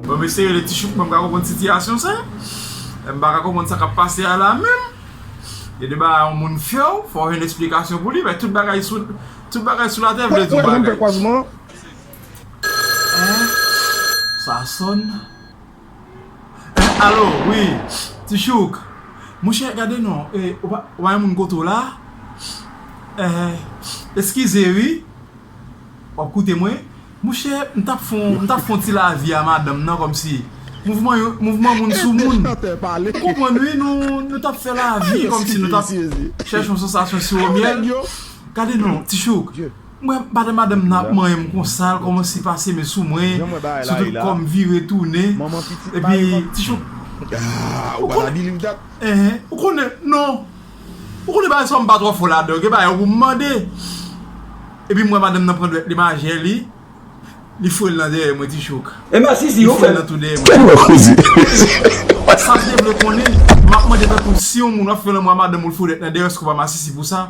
Bon m eseye le ti chouk mwen m pa ka konprann sitiyasyon sa M pa ka konprann sa k ap pase a la menm Gen de bagay yon moun fè w fò w jwenn esplikasyon pou li men tout bagay sou tout bagay sou latè vle di yon bagay Sa sonn Allo wi ti chouk monchè gade non ou pa gen moun kote w la eskize wi wap koute mwen monchè m tap fon ti lavi a madanm nan kòmsi mouvman moun sou moun ou konprann wi nou tap fè lavi kòmsi nou tap chèche yon sansasyon siwomyèl gade non ti chouk. Mwen pale madanm nan ap manyenm konsal kòmanse pase men sou mwen sou tout kòm vire tounen epi ti cho ou konnen ou konnen non ou konnen bagay sa yo mpa twò fò ladan gen bagay yo poum mande epi mwen madanm nan pran dwèt li majen li li fourel nan dèyè mwen ti cho li fourel nan tou dèyè mwen sak te vle konnen map mande tankou si yon moun wap fè lanmou a madanm ou li fourel nan dèyè èske ou pa masisi pou sa.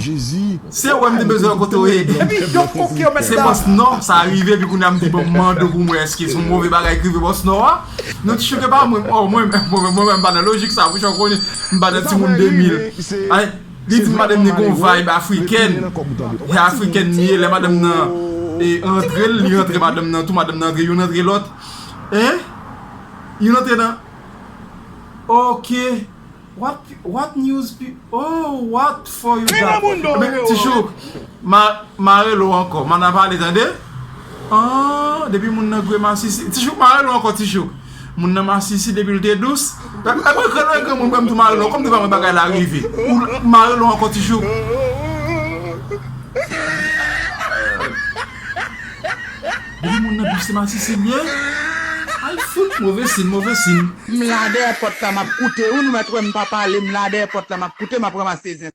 Jezi. Se wè m te bezwen kote w ede m. Se bòs nò, sa rive epi kounya m di bon m mande w pou m wè èske son move bagay ki rive bòs nò a. Nou t chouke pa mwen, oh mwen menm, mwen menm m pa nan lojik sa pouchon konnen m pa nan timoun 2000. Anh, li di madanm li gon vayb afrikèn, he african li ye lè madanm nan antre l, li antre madanm nan tou, madanm nan antre youn antre lòt. Anh, youn antre nan, ok. What what news pi oh what for you Jan moun do yo Ti chouk ma marel ou ankò mana pale tande Aah depi moun nan gwe masisi Ti chouk marel ou ankò ti chouk Moun nan masisi depil te dous Epi mwen mwen granmoun mwen mwen mtou marel ou ankò mte pa mwen bagay la rive Ou marel ou ankò ti chouk Ooh. Depi moun nan bif se masisi li ye Ay fout move sin move sin. M la dèyè pòt la map koute wi nou mèt wèm pa pale m la dèyè pòt la map koute map ranmase zen.